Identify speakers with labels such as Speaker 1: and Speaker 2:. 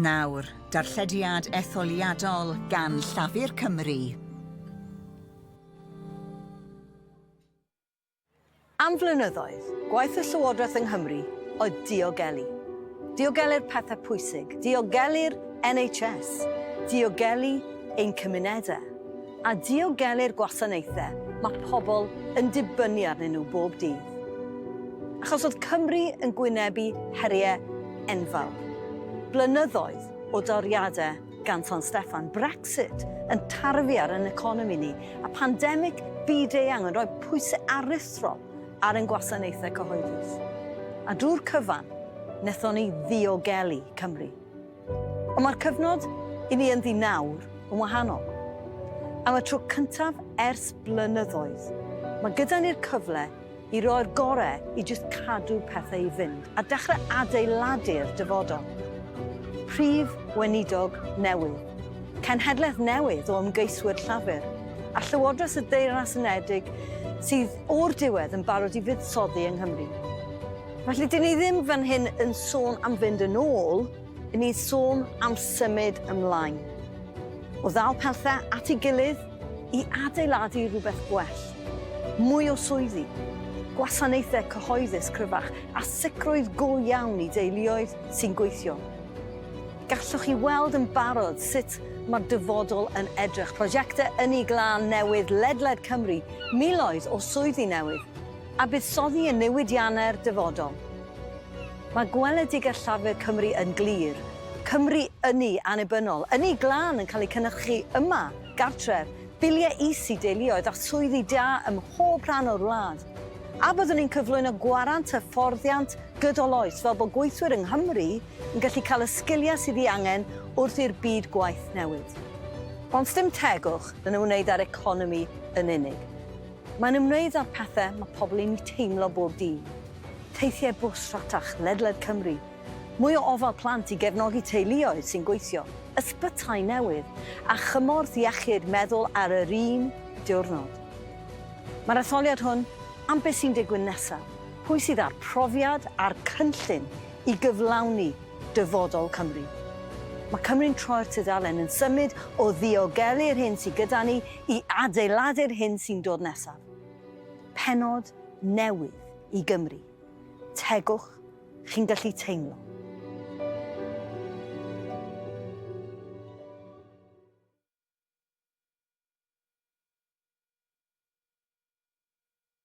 Speaker 1: Nawr, darllediad etholiadol gan Llafur Cymru.
Speaker 2: Am flynyddoedd, gwaith y Llywodraeth yng Nghymru oedd diogelu. Diogelu'r pethau pwysig, diogelu'r NHS, diogelu ein cymunedau, a diogelu'r gwasanaethau mae pobl yn dibynnu arnyn nhw bob dydd. Achos oedd Cymru yn gwynebu heriau enfawr, blynyddoedd o doriadau gan San Steffan, Brexit yn tarfu ar ein economi ni, a phandemig byd-eang yn rhoi pwysau aruthrol ar ein gwasanaethau cyhoeddus. A drwy'r cyfan, wnaethon ni ddiogelu Cymru. Ond mae'r cyfnod i ni ynddi nawr yn wahanol. Am y tro cyntaf ers blynyddoedd, mae gyda ni'r cyfle i roi'r gorau i jyst cadw pethau i fynd a dechrau adeiladu'r dyfodol. Prif Weinidog newydd, cenhedlaeth newydd o ymgeiswyr Llafur, a Llywodraeth y Deyrnas Unedig sydd o'r diwedd yn barod i fuddsoddi yng Nghymru. Felly, dyn ni ddim fan hyn yn sôn am fynd yn ôl, dyn ni'n sôn am symud ymlaen. O ddal pethau at ei gilydd, i adeiladu rhywbeth gwell, mwy o swyddi, gwasanaethau cyhoeddus cryfach a sicrwydd go iawn i deuluoedd sy'n gweithio. Gallwch chi weld yn barod sut mae'r dyfodol yn edrych, prosiectau ynni glân newydd ledled Cymru, miloedd o swyddi newydd, a buddsoddi yn newidiannau'r dyfodol. Mae gweledigaeth Llafur Cymru yn glir, Cymru ynni annibynnol, ynni glân yn cael ei cynhyrchu yma! gartref, biliau is i deuluoedd a swyddi da ym mhob rhan o'r wlad. A byddwn ni'n cyflwyno gwarant hyfforddiant gydol oes fel bod gweithwyr yng Nghymru yn gallu cael y sgiliau sydd ei angen wrth i'r byd gwaith newid? Ond sdim tegwch yn ymwneud â'r economi yn unig. Mae'n ymwneud â'r pethau mae pobl yn eu teimlo bob dydd. Teithiau bws rhatach ledled Cymru, Mwy o ofal plant i gefnogi teuluoedd sy'n gweithio, ysbytai newydd a chymorth iechyd meddwl ar yr un diwrnod. Mae'r etholiad hwn am beth sy'n digwydd nesaf, pwy sydd â'r profiad a'r cynllun i gyflawni dyfodol Cymru. Mae Cymru'n troi'r tudalen, yn symud o ddiogelu'r hyn sydd gyda ni i adeiladu'r hyn sy'n dod nesaf. Pennod newydd i Gymru. Tegwch Chi'n gallu teimlo.